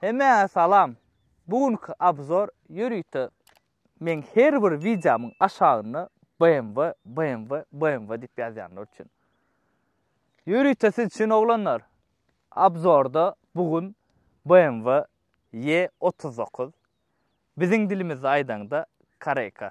Hemmäňe salam! Bu günki obzor ýörite meň her bir wideomyň aşagynda BMW, BMW, BMW diýip ýazýanlar üçin. Ýörite siz üçin oglanlar! Obzorda bu gün BMW E otuz dokuz, biziň dilimizde aýdaňda Koreyka.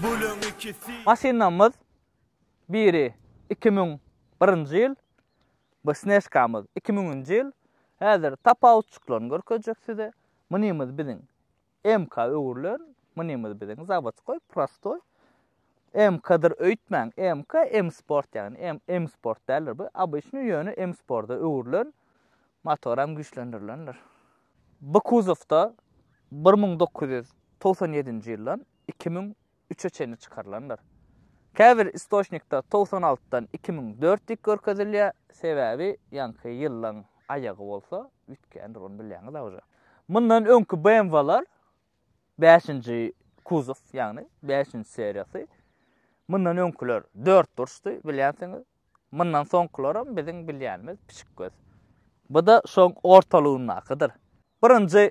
Bölüň ikisi. Maşynamyz biri iki müň birinji ýyl, bu snežkamyz iki müňünji ýyl. Häzir tapawutjyklaryny görkezjek size. Munymyz biziň MK öwrülen, munymyz biziň zawodskoý, prostoý. MK-dyr öýtmäň, MK M-sport ýagny M M-sport däldir bu, obyçnyý ýöne M-sporda öwrülen, motor hem güýçlendirilendir. Bu kuzowda bir müň dokuz ýüz togsan ýedinji ýyldan iki müň üçe çenli çykarylandyr. Käbir istoçnikde togsan altydan iki müň dört diýip görkezilýär, sebäbi ýaňky ýyllaň aýagy bolsa üýtgändir, ony bilýäňiz agja. Mundan öňki BMW-lar bäşinji kuzow, ýagny bäşinji seriýasy, mundan öňküler dört burçdy, bilýänsiňiz. Mundan soňkularam biziň bilýänimiz pişik göz. Bu-da şoň ortalygyndakydyr. Birinji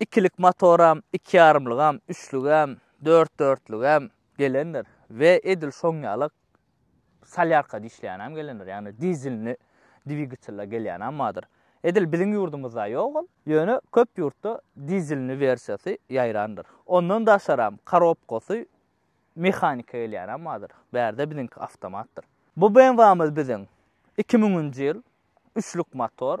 Ikilik motoram, ikiýarymlygam, üçlügem, dört-dörtlügem gelendir we edil şoň ýaly solýarkada işleýänem gelendir, ýagny dizelli dwigatella gelýänem bardyr. Edil biziň ýurdumyzda ýok ol, ýöne köp ýurtda dizelli wersiýasy ýaýrandyr. Ondan daşaram korobkasy mehanika gelýänem bardyr, bärde biziňki awtomatdyr. Bu BMW-miz biziň iki müňünji ýyl, üçlük motor.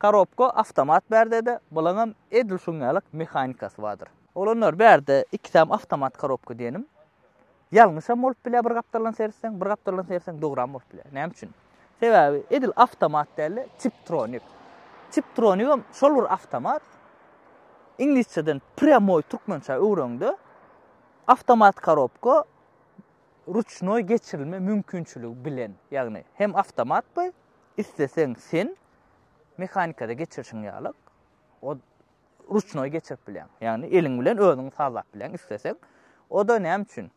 Korobka awtomat bärdede, bulaňam edil şuň ýalyk mehanikasy bardyr. Oglanlar, bärde ikisem awtomat korobka diýenim. Ýalňyşam bolup bilýär bir gapdaldan seretseň, bir gapdaldan seretseň dogram bolup bilýär. Näme üçin? Sebäbi edil awtomat däl-de, tiptronik. Tiptronikam şol bir awtomat. Iňlisçeden prýamoý türkmençä öwreňde, awtomat korobka ruçnoý geçirilme mümkinçiligi bilen, ýagny hem awtomat bu, isleseň sen mehanikada geçirişiň ýaly o ruçnoý geçirip bilýäň. Ýagny eliň bilen özüň sazlap bilýäň isleseň. O da näme üçin?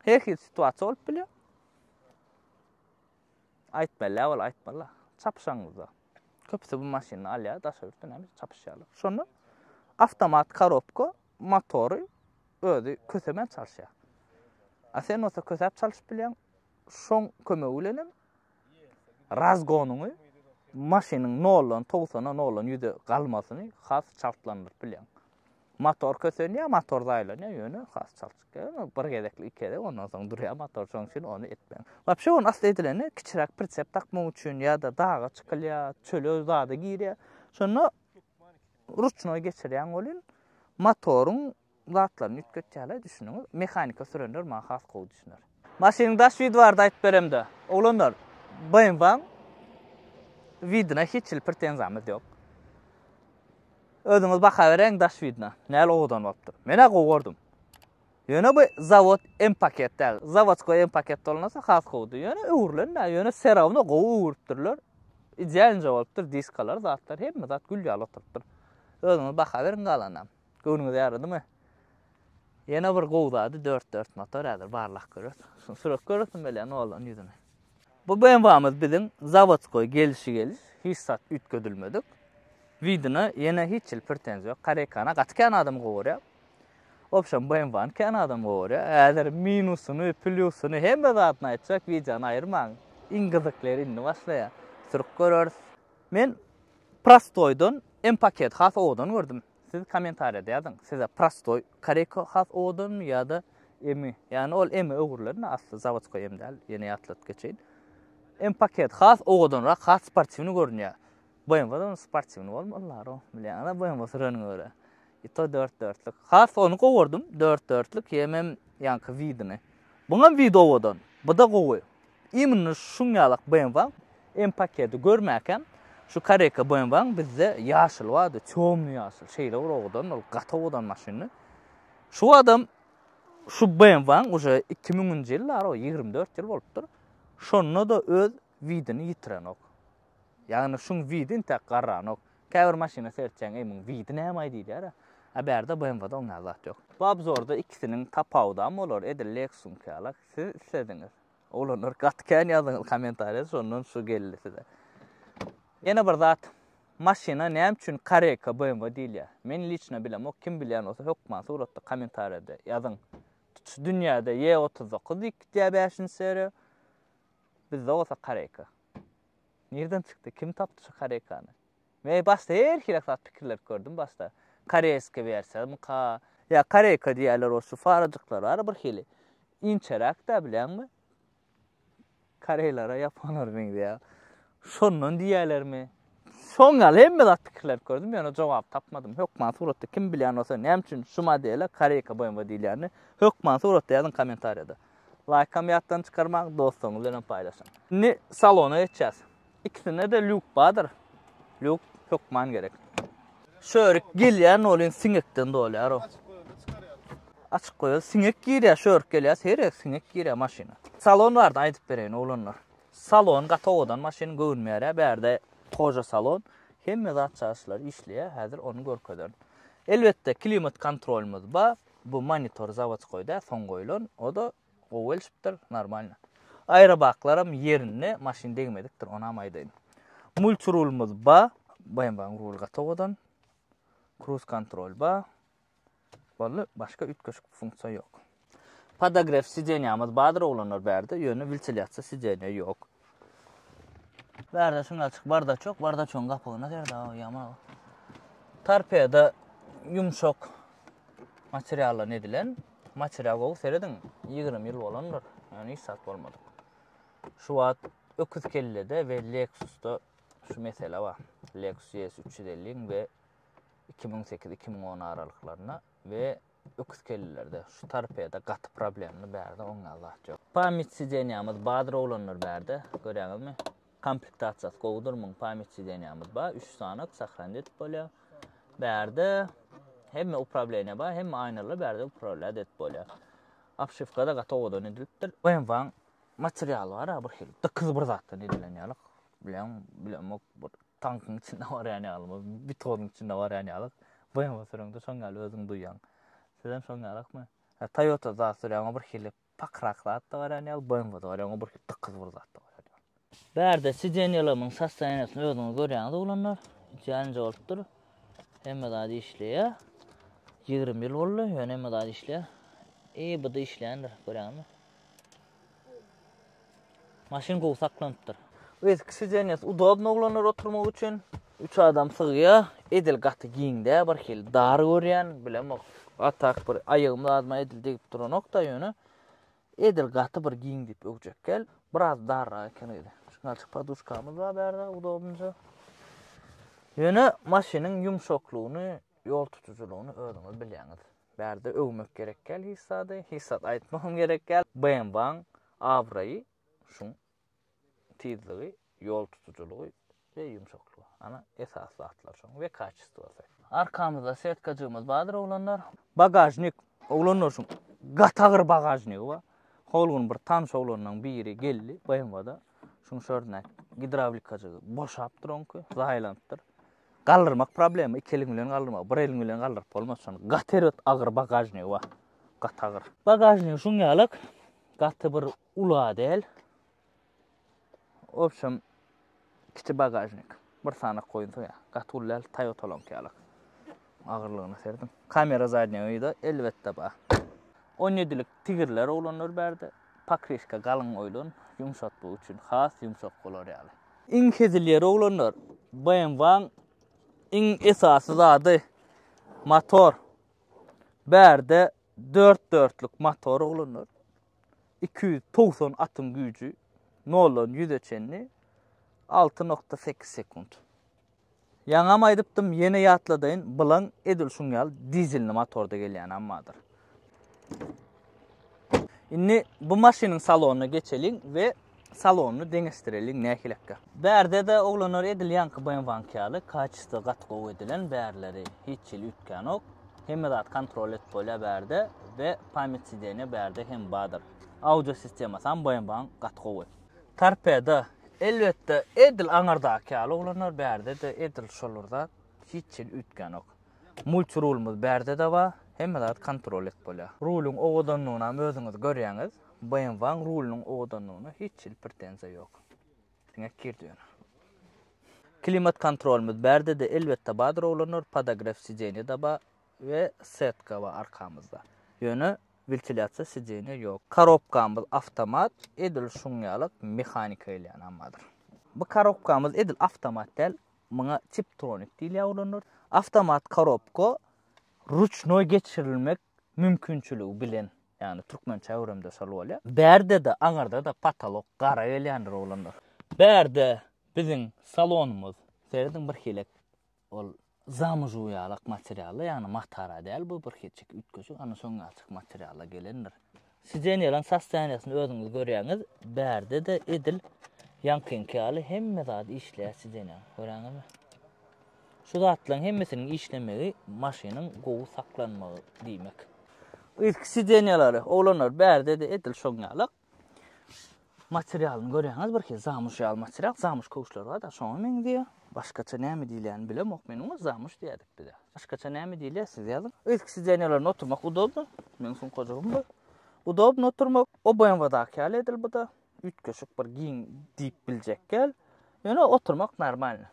Her hil situasiýa bolup bilýär. Aýtmaly, ol aýtmaly. Çapyşaňyzda. Köpüsi bu maşyny alýar, daşa ýurtda näme çapyşýarlar. Şonda avtomat korobka motory özi kösemän çalyşýar. A sen olsa kösäp çalyşyp bilýäň. Şoň kömegi bilen hem razgonyňy maşynyň noldan togsana noldan ýüze galmasyny has çaltlandyryp bilýän motor kösenýär motor zaýlanýar ýöne has çalt bir gezekli iki gezek ondan soň durýar motor şoň üçin ony etmeň wapşe ony asla edilende kiçiräk pritsep takmak üçin ýa-da daga çykylýar çöle zada girýär şonda ruçnoý geçirýän welin motoryň zatlaryny üýtgetýärler düşüniňiz. Mehanika sürenler maňa has gowy düşüner. Maşynyň daş widi barada aýdyp beremde. Oglanlar, BMW-nyň widine hiç hili pretenziyamyz yok. Özüňiz baka bereň daş widine. Näl owadan bolupdyr. Men-ä gowy gördüm. Ýöne bu zawod M paket däl. Zawodskoý M paket bolmasa has gowdy. Ýöne öwrülen dä, ýöne serawno gowy öwrüpdirler. Idealnje bolupdyr diskalar, zatlar hemme zat gül ýaly oturypdyr. Özüňiz baka beriň galanam. Göwnüňizi ýaradymy? Ýene bir gowy zady dört dört motor häzir barlak göres. Şuny sürüp göresim gelýär noldan ýüzüni. Bu BMW-miz biziň zawodskoý gelişi geliş hiç zat üýtgedilmedik. Widina ýene hiç hili pretenziýa ýok. Koreýkany gaty kän adam gowy görýär. Obşem BMW-ni kän adam gowy görýär. Häzir minusyny, plýusyny hemme zadyny aýtjak wideony aýyrmaň. Iň gyzyk ýeri indi başlaýar. Sürüp göreris. Men prostoýdan M-paket has owadan gördüm. Siz kommentariýada ýazyň, size prostoý koreyka has owadanmy ýa-da emi? Ýagny ol emi öwrülen asly zawodskoý em däl, ýene ýatladyp geçeýin. Em paket has owadanrak, has sportiwny görünýär. BMW-da ony sportiwny bolma Allaro, bilýäňiz-ä BMW süreniňe görä. I to dört dörtlük. Has ony gowurdym, dört dörtlük, ýemem ýaňky widini. Buňam wid owadan, bu-da gowy. Imini şuňňalak BMW-ň M-paketi görmäkäm, şu koreýka BMW-ň bizde ýaşyly bardy, tёmnyý ýaşyl, şeýle bir owadan, ol gaty owadan maşyndy. Şu badam şu BMW-ň uje iki müňünji ýyl bar, o ýigrimi dört ýyl bolupdyr, şonda-da öz widini ýitirenok. Ýagny şuň widi intäk garranok. Käbir maşyna seretýäň, eý muň widi nämaý diýilýär-ä. A bärde BMW-de oňňal zat ýok. Bu obzorda ikisiniň tapawudam bolar, edil Lexus-yňkyýalak. Siz islediňiz. Oglanlar gaty kän ýazdyňyz kommentariýa şondan şu geldi size. Ýene bir zat maşyna näme üçin Kareka BMW diýilýär? Men liçna bilemok kim bilýän bolsa hökman suratda kommentariýada ýazyň. Tutuş dünýäde Y39 diýip gitýär 5-nji seriýa. Bizde bolsa Kareka. Nirden çykdy? Kim tapdy şu Karekany? Men başda her hili zat pikirlenip gördüm başda. Koreýska bersemmika? Ýa koreýka diýýärler o şu farajyklar bar bir hili. Inçeräk-dä bilýäňmi? Koreýlere, ýaponlara meňzeýär. Şondan diýýärlermi? Şoň ýaly hemme zat pikirlenip gördüm, ýöne jogap tapmadym. Hökman suratda kim bilýän bolsa, näme üçin şu modele koreýka BMW diýilýänini hökman suratda ýazyň kommentariýada. Laýkam ýatdan çykarmaň, dostlaryňyz bilen hem paýlaşyň. Indi salona geçýäs. Ikisinde-de lýuk bardyr. Lýuk hökman gerek. Şörik gelýän bolýan siňekden dolýar o. Açyk goýar, siňek girýär, şörik gelýär, seýrek siňek girýär maşyna. Salon bardy aýdyp bereýin oglanlar. Salon gaty owadan maşyn göwünmeýärä bärde goja salon. Hemme zat çaşylar işleýär häzir ony görkezerin. Elbetde klimat kontrolymyz bar. Bu monitor zawodskoý däl soň goýlan. O-da Gowy gelşipdir, normalno. Aerobaklaram ýerinde, maşyn degmedikdir, onam aýdaýyn. Multirulmyz ba, BMW-niň ruly gaty owadan. Cruise kontrol ba. Boldy, başga üýtgeşik funksiýa ýok. Podogref sidenýamyz bardyr oglanlar bärde, ýöne wiltilýasiýa sidenýa ýok. Bärde şuny açyk bardaç ýok, bardaçyň gapygyna serde o ýaman o. Torpedo ýumşak materialdan edilen. Material gowy serediň, 20 ýyl bolandyr. Ýöne hiç zat bolmadyk. Şu wagt öküz kellede we Lexusda şu mesele bar. Lexus ES 350 we 2008-2010 aralyklarynda we Öküzkellilerde şu torpeda gaty problemli bärde oňňe zat ýok. Pamyt sidenýamyz badyr oglanlar bärde görýäňizmi. Komplektasiýasy gowudyr muň pamyt sidenýamyz bar üç sanak sahranit edip bolýar. Bärde hemme uprableniýa bar hemme aýnalar bärde upravlýat edip bolýar. Apşywkada gaty owadan edilipdir. BMW-nyň materialy bar-a birhili dykyz bir zatdan edilen ýaly bileň bilemok bir Tankyň içinde barýan ýalymy, betonuň içinde barýan ýalyk. BMW süreňde şoň ýaly özüň duýýaň. Sizem şoň ýalykmy? Ha, Toyota zat sürýäňä bir hili pakrak zat da barýan ýaly, BMW-de barýaňa bir hili dykyz bir zat da barýan ýaly. Bärde sidenýelerimiň sostaniýasyny özüňiz görýäňiz oglanlar. Jänje bolupdyr. Hemme zady işleýär. Ýigrimi ýyl boldy, ýöne hemme zady işleýär. EBD işleýändir, görýäňizmi? Maşyn gowy saklanypdyr. Eski sideniýasy udobny oglanlar oturmak üçin. Üç adam sygýa. Edil gaty giň dä, bir hili dar görýän, bilemok. A tak bir aýagym adyma edil degip duranok da ýöne. Edil gaty bir giň diýip öwjek gel. Biraz darrak eken öýde. Şunalçyk poduşkamyz bar bärde udobnyja. Ýöne maşynyň ýumşaklygyny, ýol tutujylygyny özüňiz bilýäňiz. Bärde öwmek gerek däl hiç zady, hiç zat aýtmak hem gerek däl. BMW-nyň abraýy şuň tizligi, ýol tutujylygy we ýumşaklygy. Ana, esasy zatlar şoň we kaçestwosy. Arkamyzda setkajygymyz bardyr oglanlar. Bagažnik, oglanlar şuň gaty agyr bagažnigi bar. Hol gün bir tanyş oglanlaryň biri geldi BMW-da. Şuň şördündäki gidrawlikajygy boşapdyr oňky, zaýalanypdyr. Galdyrmak problema, iki eliň bilen galdyrmak, bir eliň bilen galdyryp bolmaz şony. Gaty erbet agyr bagažnigi bar. Gaty agyr. Bagažnigi şuň ýalak, gaty bir ula däl. Obşem kiçi bagažnik. Bir sanak goýunsa ýa, gaty uly däl, Toyota-laňky ýalak. Agyrlygyna serediň. Kamera zadnýa wideo elbetde bar. On ýedilik tigirler oglanlar bärde pokryşka galyň oýlan ýumşatmak üçin has ýumşak bolar ýaly. Iň hezil ýeri oglanlar BMW-nyň iň esasy zady motor. Bärde dört dörtlük motor oglanlar. Iki ýüz togsan atyň güýji noldan ýüze çenli alty nokta sekiz sekunt. Ýaňam aýdypdym, ýene ýatladaýyn, Blan edil şuň ýaly dizelli motorda gelýän ammadyr. Indi bu maşynyň salonyna geçeliň we salonyny deňeşdireliň nähilekge. Bärde-de oglanlar edil ýaňky BMW-niňki ýaly, kaçysto gaty gowy edilen, bärleri hiç hili üýtgänok. Hemme zat kontrol edip bolýar bärde we pamýat sideniýa bärde hem bardyr. Audio sistemasam BMW-niň gaty gowy. Torpedo, elbetde, edil aňyrdaky ýaly oglanlar, bärde-de edil şolar zat, hiç hili üýtgänok. Multirulymyz bärde-de bar, hemme zady kontrol edip bolýar. Rulyň owadanlygynam özüňiz görýäňiz, BMW-nyň rulynyň owadanlygyna hiç hili pretenziýa ýok. Diňe kir döner. Klimat kontrolymyz bärde-de, elbetde, bardyr oglanlar, podogref sideniýe-de bar. we setka bar arkamyzda. Ýöne wentilýasiýa sideniýa ýok. Korobkamyz awtomat, edil şuň ýaly mehanika gelýänam bardyr. Bu korobkamyz edil awtomat däl, muňa tiptronik diýilýär ulanylýar. Awtomat korobka ruçnoý geçirilmek mümkinçiligi bilen, ýagny türkmençe äwrümde şol bolýar. Bärde-de, aňyrda-da potolok gara gelýändir oglanlar. Bärde biziň salonymyz. Serediň birhili Ol zamujugýalak materialda, ýagny matara däl, bu bir kiçijik üýtgeşik, ana şoň ýaljak materialda gelendir. Sidenýalaň sostoýaniýasyny özüňiz görýäňiz, bärde-de edil ýaňkyňky ýaly hemme zady işleýär sidenýaň. Göräňizmi? Şu zatlaryň hemmesiniň işlemegi maşynyň gowy saklanmagy diýmek. Yzky sidenýalary, oglanlar, bärde-de edil şoň ýalak. Materialyny görýäňiz birki zamyş ýaly material, zamyş köwüşleri bar-da şoňa meňzeýär. Başgaça näme diýilýäni bilemok men oňa, zamyş diýýärdik biz-ä. Başgaça näme diýilýär siz ýazyň. Ilki sidenýalarynda oturmak udobno, meniň sumkajygym bu. Udobno oturmak, o BMW-daky ýaly edil bu-da. Üýtgeşik bir giň diýip biljek ýaly. Ýöne oturmak normalny.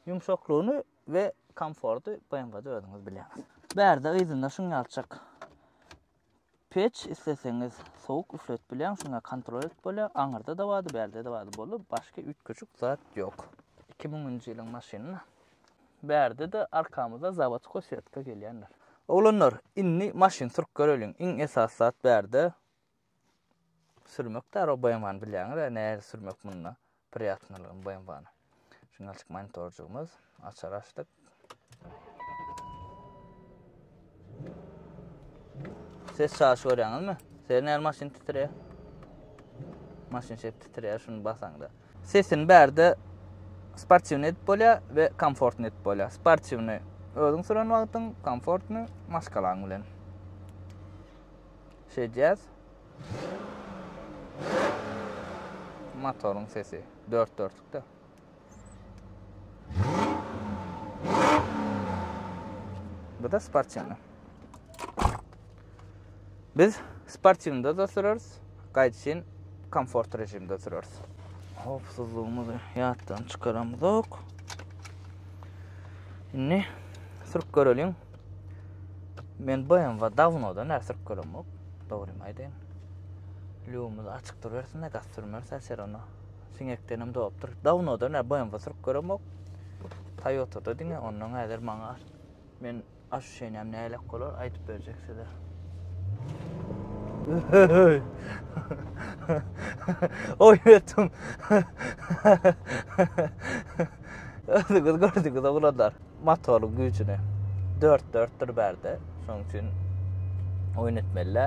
Ýumşaklygyny we komforty BMW-de özüňiz bilýäňiz. Bärde yzynda şuň ýalyçak Peç isleseňiz sowuk üfledip bilýäň şunda kontrol edip bolýar aňyrda da bardy bärde de bardy boldy başga üýtgeşik zat ýok iki müňünji ýylyň maşynyna bärde de arkamyzda zawodkoý sýetka gelýändir oglanlar indi maşyn sürüp göreliň iň esasy zat bärde sürmek däro boýamany bilýäňiz nähili sürmek munda Priýatnylygym BMW-ny. Signalçyk monitorjygymyz. Açary açdyk. Ses çaşy görýäňizmi? Sesini näme maşyn titrýär? Maşyn şep titrýär şuny basaňda. Sesini bärde sportiwny edip bolýar we komfortny edip bolýar. Sportiwny özüň süren wagtyň, komfortny maşgalaň bilen. Şeýdýäs. Motoryň sesi dört dörtlükde. Bu da sportivni. Biz sportivnda da süreriz. Gaýdyşyn komfort rejimde süreriz. Howpsuzlygymyzy ýatdan çykaramyzok. Indi sürüp göreliň. Men BMW dawnodan bäri sürüp göremok. Dogrymy aýdaýyn. Lýumuz açyk durubersin de gaz sürmeris äşer ona. Siňekdenem dopdur. Dawnodan bäri BMW sürüp göremok. Toyota-da diňe ondan häzir maňa men aşuşenäm näle bolar aýdyp berjek size. Oy etdim. Özüňiz gördüňiz oglanlar. motoryň güýjüne 4-4-dir bärde. Şonuň üçin oýun etmeli.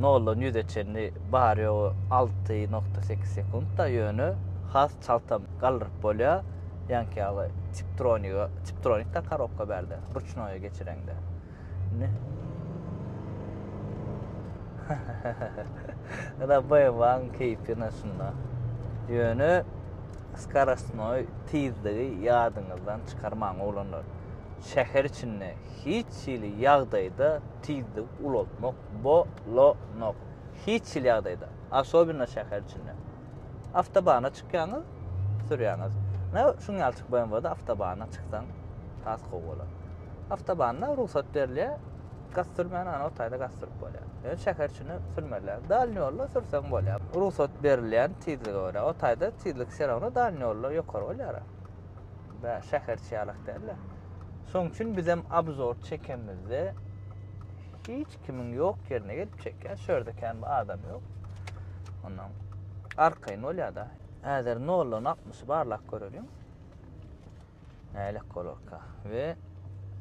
0-dan 100-e çenli bar ýogy 6.8 sekuntda ýöne has çaltam galdyryp bolýar. Ýanki ýaly tiptronika, tiptronikda korobka bärde, ruçnoýa geçireňde. Ana baýabaň keýpi naşynda. Ýöne skarasnoý tizligi ýadyňyzdan çykarmaň oglanlar. Şäher içinde hiç hili ýagdaýda tizligi ulaltmak bolanok. Hiç hili ýagdaýda, asobina şäher içinde. Awtobana çykýaňyz, sürýäňiz. Ine, şuň ýalçyk BMW-de awtobana çyksaň, has gowy bolar. Awtobanda rugsat berilýär, gaz sürmän, ana, o taýda gaz sürüp bolýar. Ýöne şäher içinde sürmelidir. Dalni ýolda sürseň bolýar. Rugsat berilýän tizlige görä. O taýda tizlik всё равно dalni ýollar ýokary bolýar. Bä, şäher içi ýalak däl-de. Şoň üçin bizem obzor çekenimizde hiç kimiň ýok ýerine gelip çekýär. Şu ýerde kän bir adam ýok. Ondan arkaýyn bolýar-da. Häzir noldan altmyşy barlap göreliň. Nälik bolarka. We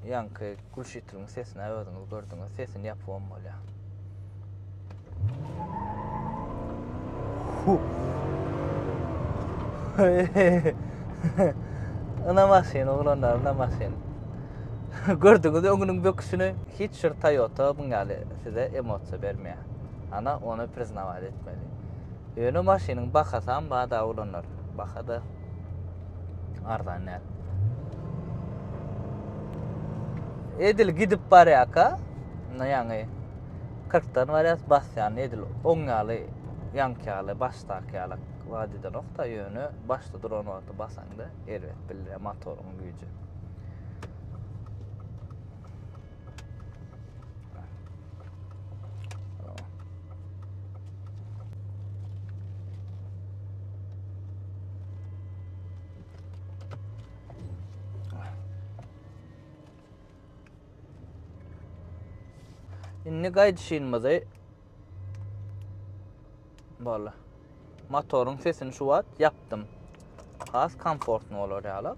ýaňky gülşitriniň sesini özüňiz gördüňiz. Sesini ýapybam bolýar. Ana maşyn, oglanlar, ana maşyn. Gördüňiz öňüniň böküşini. Hiç bir Toyota muň ýaly size emosiýa bermeýär. Ana ony priznawać etmeli. Ýöne maşynyň bahasam bada oglanlar. Bahada arzan däl. Edil gidip barýaka. Indi ýaňy 40 dan barýas basýan edil oň ýaly ýaňky ýaly başdaky ýaly wada edenokda ýöne başda duran wagty basaňda. erbet bildirýär motoryň güýji. Indi gaýdyşynymyzy Boldy. Motoryň sesini şu wagt ýapdym. Has komfortny bolar ýalak.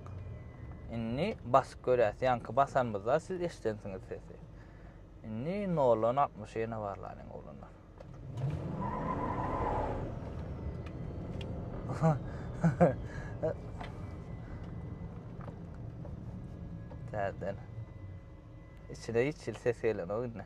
Indi basyp görýäs. Ýaňky basanymyzda siz eşidensiňiz sesi. Indi 0-dan 60 ýene barlaryň oglanlar. Täzeden. Içine hiç ses gelen o indi.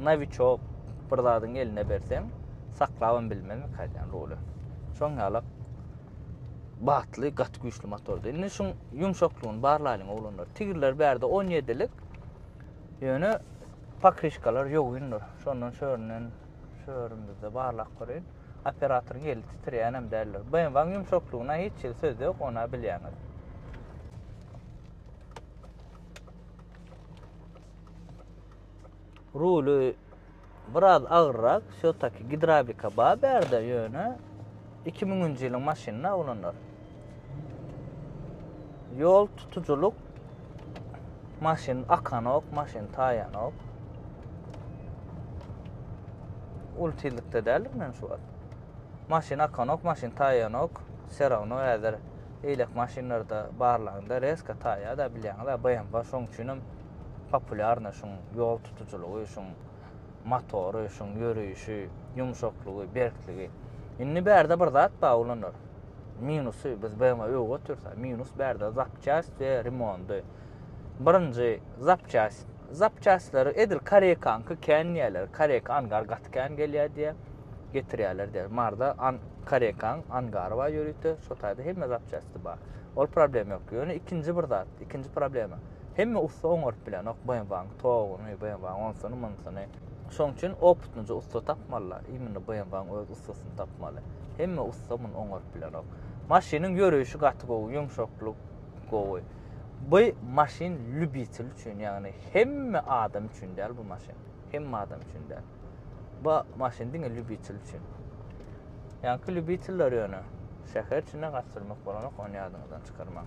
naviçok bir zadyň eline berseň, saklabam bilmezmi kaýdan ruly. Şoň ýalak batly gat güýçli motordy. Indi şuň ýumşaklygyny barlaýyň oglanlar. Tigirler bärde 17-lik. Ýöne pakrişkalar ýogyndyr. Şondan şöründen şörümizde barlak görýän. Operatoryň eli titirýän hem däldir. BMW-niň ýumşaklygyna hiç ýerde söz ýok, ona bilýäňiz. Ruly biraz agyrrak, şo taki gidrawlika bar bärde ýöne 2000-nji ýylyň maşynyna oglanlar. Ýol tutujylyk maşyn akanok, maşyn taýanok. Ul tizlikde däldik men şu wagt. Maşyn akanok, maşyn taýanok. Serawno häzir eýlek maşynlarda barlanda reska taýa da bilýäňiz, BMW şoň üçin hem Populýarna şuň ýol tutujylygy, şuň motory, şuň ýöreýşi, ýumşaklygy, berkligi. Indi bärde bir zat bar oglanlar. Minusy biz BMW'e öwüp otyrsa, minus bärde zapçast we remondy. Birinji zapçast zapçastlar edil koreýkanky kän diýýärler. Koreýka angar gaty kän gelýär diýýär. Getirýärler diýýär. Marda an koreýkan angary bar ýörite, şo taýda hemme zapçasty bar. Ol problem ýok. Ýöne ikinji bir zat, ikinji problema. Hemme ussa oňaryp bilenok BMW-nyň toguny, BMW-nyň onsuny, munsuny. Şoň üçin opytnyja ussa tapmalylar. Imенно BMW-nyň öz ussasyny tapmaly. Hemme ussa muny oňaryp bilenok. Maşynyň ýöreýşi gaty gowy, ýumşaklyk gowy. Bu maşyn lýubitel üçin, ýagny hemme adam üçin däl bu maşyn. Hemme adam üçin däl. Bu maşyn diňe lýubitel üçin. Ýaňky lýubiteller ýöne şäher içinde gaçyrmak bolanok, ony ýadyňyzdan çykarmaň.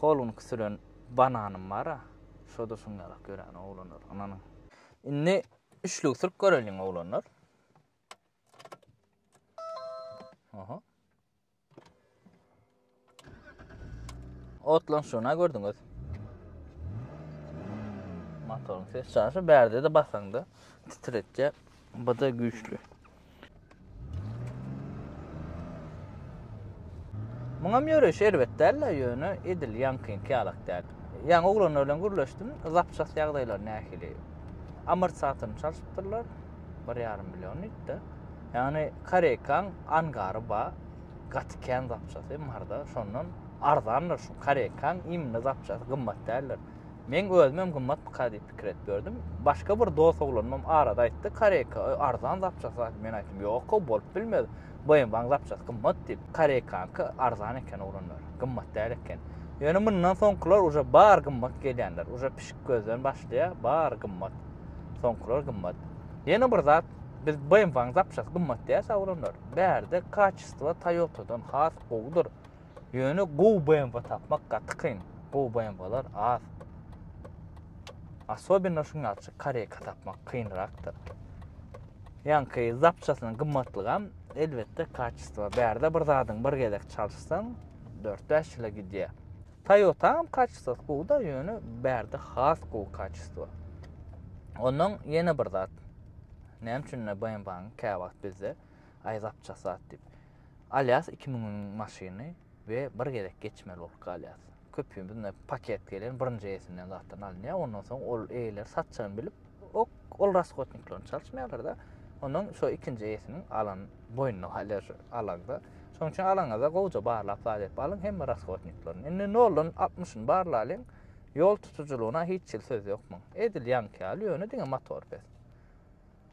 Hol günki süren bananym bar-a, şo-da şuň ýalak ýören, oglanlar, ynanyň. Indi üçlügi sürüp göreliň, oglanlar. Oho. Otlan şuna gördüňiz. Motorun ses çaşy bärde de basaňda titretjä bada güýçli. Muňam ýöreýiş erbet däl-le, ýöne edil ýaňkyňky ýalak däl. Ýaňy oglanlar bilen gürleşdim, zapçast ýagdaýlary nähili? Amortizatorny çalşypdyrlar, bir ýarym million diýip-de. Ýagny Koreýkaň angary bar, gaty kän zapçasy, marda, şondan arzandyr şu Koreýkaň immni zapçasy, gymmat däldir. Men özümem gymmatmyka diýip pikir edip ýördüm. Başga bir dost oglanymam arada aýtdy, Koreka arzan zapçasa. Men aýtdym, ýok-ow, bolup bilmez. BMW-niň zapçasy gymmat diýip. Korekanyňky arzan eken oglanlar, gymmat däl eken. Ýöne mundan soňkular uje bary gymmat gelýänler. Uje pişik gözden başlaýar, bary gymmat. Soňkular gymmat. Ýene bir zat, biz BMW-niň zapçasy gymmat diýýäs-ä oglanlar. Bärde kaçestwo Toyota-dan has gowudyr. Ýöne gowy BMW tapmak gaty kyn. Gowy BMW-lar az. Asobinno şuň ýalçy Koreka tapmak kynrakdyr. Ýanky zapçasynyň gymmatlygam elbetde kaçestwa. Bärde bir zadyň bir gezek çalyşsaň 4-5 ýyla gidýär. Toyota hem kaçestwasy gowy-da, ýöne bärde has gowy kaçestwa. Ondan ýene bir zat. Näme üçin BMW-niň käwagt bizde aý zapçasy az diýip. Alýas iki müňüň maşyny we bir gezek geçmeli bolup galýas. Köpümiz paket gelen birinji eýesinden zatdan alynýar, ondan soň ol eýeler satjagyny bilip, ok, ol raskotniklerini çalyşmaýarlar-da, ondan şo ikinji eýesiniň alan boýnuna galýar şu alaňda. Şonuň üçin alaňyza gowja barlap zat edip alyň hemme raskotniklerini. Indi noldan altmyşyny barlalyň, ýol tutujylygyna hiç hili söz ýok muň. Edil ýaňky ýaly, ýöne diňe motor pes.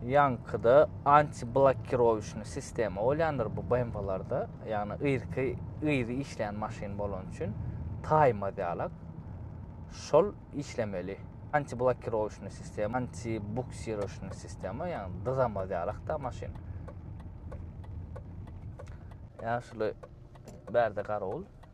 ýaňkyda antiblokirowişni sistema bolýandyr bu BMW-larda. Ýagny ýyrky yzy işleýän maşyn bolany üçin taýmaz ýalak. Şol işlemeli. Antiblokirowişni sistema, antibuksirowişni sistema, ýagny dyzamaz ýalak-da maşyn. Ýaşuly bärde garawul.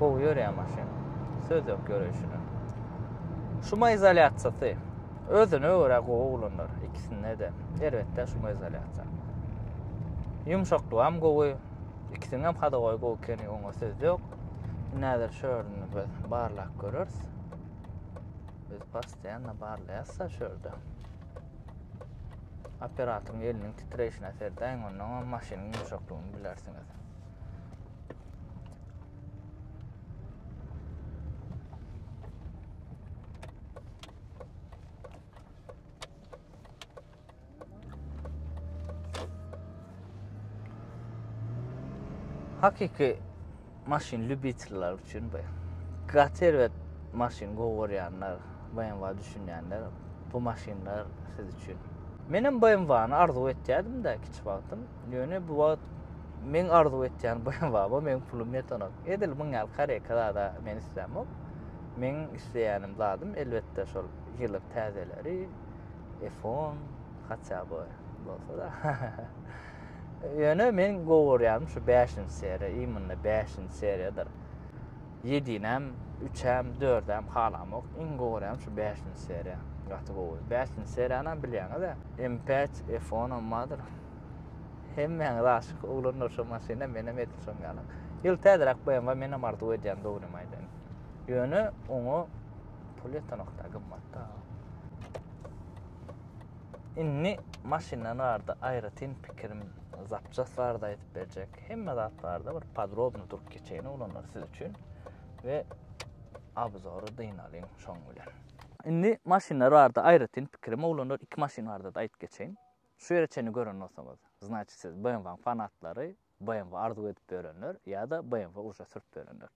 Gowy ýörýär maşyn. Söz ýok ýöreýşine. Şuma izolýasiýasy özüne görä gowy oglanlar ikisinde de. Erbetde şuma izolýasiýa. Ýumşaklygy hem gowy. Ikisiniň hem hada gowy gowy ekeni, oňa söz ýok. Näzir şörini biz barlap görüris. Biz postoýanna barlaýas-da şurada. Operatoryň eliniň titreýşine serdäň, ondan hem maşynyň ýumşaklygyny bilersiňiz. Hakyky maşyn lýubitiller üçin bu. Gaty erbet maşyn gowy görýänler, BMW düşünýänler bu maşynlar siz üçin. Menem BMW-ny arzuw etýädim-de kiçi wagtym. Ýöne bu wagt men arzuw etýän BMW-a meniň pulum ýetenok. Edil muň ýaly kareka zada men islämok. Meň isleýänim zadym elbetde şol ýylyk täzeleri, F-on, hatýa bu bolsa-da. Ýöne men gowy görýärin şu bäşinji seriýa, imunda bäşinji seriýadyr. Ýedinem, üçem, dördem halamok. Iň gowy görýänim şu bäşinji seriýa. Gaty gowy. Bäşinji seriýanam bilýäňiz-ä. M5, F10-am bardyr. Hemmäňiz aşyk, oglanlar şo maşyna, menem edil şoň ýaly. Ýyl täzeräk BMW menem arzuw edýän dogrymy aýdaýyn. Ýöne oňa pul ýetenok-da, gymmat-da. Indi maşyndan barada aýratyn pikirim zapças barada aýdyp berjek. Hemme zat barada bir podrobny durup geçeýin oglanlar siz üçin we abzory dynalyň şoň bilen. Indi maşynlar barada aýratyn pikirim oglanlar iki maşyn barada aýdyp geçeýin. Şu ýere çenli gören bolsaňyz, znaçit siz BMW-nyň fanatlary, BMW arzuw edip bölenler ýa-da BMW uje sürüp bölenler.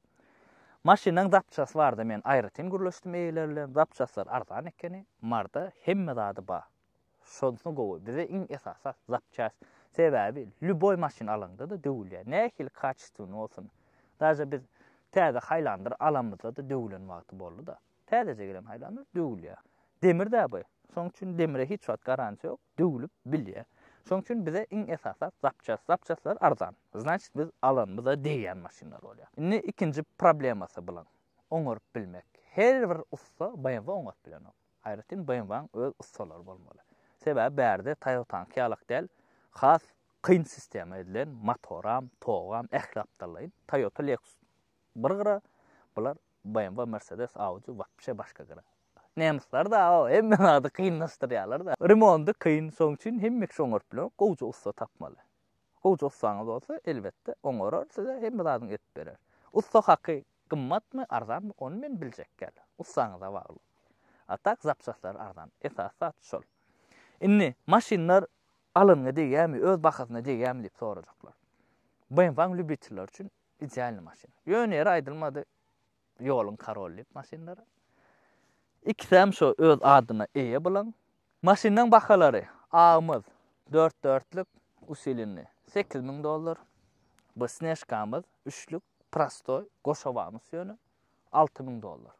Maşynyň zapçasy barada men aýratyn gürleşdim eýeler bilen, zapçaslar arzan ekeni, marda hemme zady bar. Şonsy gowy, bize iň esasy zapças. Sebäbi lýuboý maşyn alaňda-da döwülýär. Nähili kaçestwny bolsun. Daže biz täze Haýlandyr alanymyzda-da döwülen wagty boldy-da. Täzeje gelen haýlanlar döwülýär. Demir-dä bu. Şonuň üçin demire hiç wagt garantiýa ýok, döwülip bilýär. Şonuň üçin bize iň esas zat zapçast. Zapçastlar arzan. Znaçit biz alanymyza degýän maşynlar bolýar. Indi ikinji problemasy bulan, oňaryp bilmek. Her bir ussa BMW oňaryp bilenok. Aýratyn BMW-niň öz ussalary bolmaly. Sebäbi bärde Toyota-nyňky ýalak däl, has kyn sistema edilen, motoram, togam, ähli gapdallaýyn. Toyota, Lexus bir gyra, bular BMW Mercedes Audi wapşe başga gyra. Nemyslar da o hemme zady kynlaşdyrýalar da. Remondy kyn şoň üçin hemmeki şoňart bilen gowja ussa tapmaly. Gowja ussaňyz bolsa elbetde oňarar size hemme zadyny edip berer. Ussa haky gymmatmy arzanmy ony men biljek däl. Ussaňyza bagly. A tak zapçaslary arzan. Esasy zat şol. Indi maşynlar alanyňa degýämi öz bahasyna degýämi diýip sorajaklar. BMW-nyň lýubitelleri üçin Idealny maşyn. Ýöne ýeri aýdylmady ýoluň karoly diýip maşynlara. Ikisem şo öz adyna eýe bulan. Maşynlaň bahalary agymyz dört dörtlük usilinli sekiz müň dollar. Bu snežkamyz üçlük prostoý goşawanus ýöne alty müň dollar.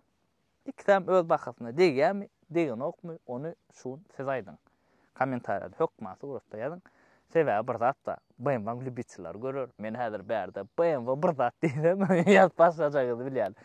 Ikisem öz bahasyna degýärmi, degenokmy, ony şu gün siz aýdyň. Kommentariýada hökman suratda ýazyň. Sebäbi bir zat bar, BMW-nyň lýubitellary görer. Men häzir bärde BMW bir zat diýsem, ýazyp başlajagyňyzy bilýän.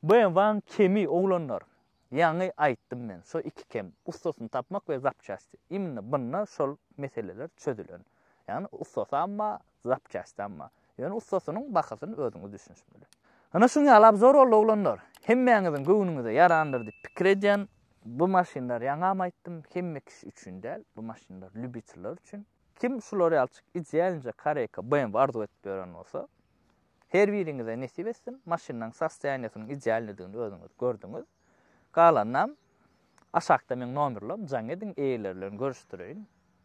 BMW-nyň kemi, oglanlar, ýaňy aýtdym men, şo iki kem, ussasyny tapmak we zapçasti. Imенно bunda şol meseleler çözülen. Ýagny ussasam bar, zapçasti amma. Ýöne ussasynyň bahasyny özüňiz düşünişmeli. Ana şuň ýaly abzor boldy oglanlar. Hemmäňiziň göwnüňize ýarandyr diýip pikir edýän. Bu maşynlar ýaňam aýtdym hemme kişi üçin däl. Bu maşynlar lýubitiller üçin. Kim şular ýalçyk idealnje koreyka BMW arzuw edip ýören bolsa her biriňize nesip etsin. Maşynyň sostoýaniýesiniň idealnidigini özüňiz gördüňiz. Galanynam aşakda meň nomerlerim jaň ediň eýeleri bilen görüşdireýin,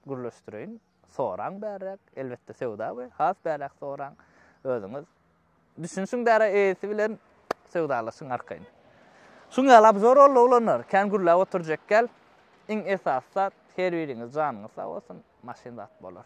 gürleşdireýin. Soraň bärräk, elbetde söwda we has bärräk soraň, özüňiz düşünşiň bärä eýesi bilen söwdalaşyň arkaýyn. Şuň ýaly abzor boldy oglanlar, kän gürläp oturjak gel, iň esasy zat her biriňiz janyňyz sag bolsun, maşyn zat bolar.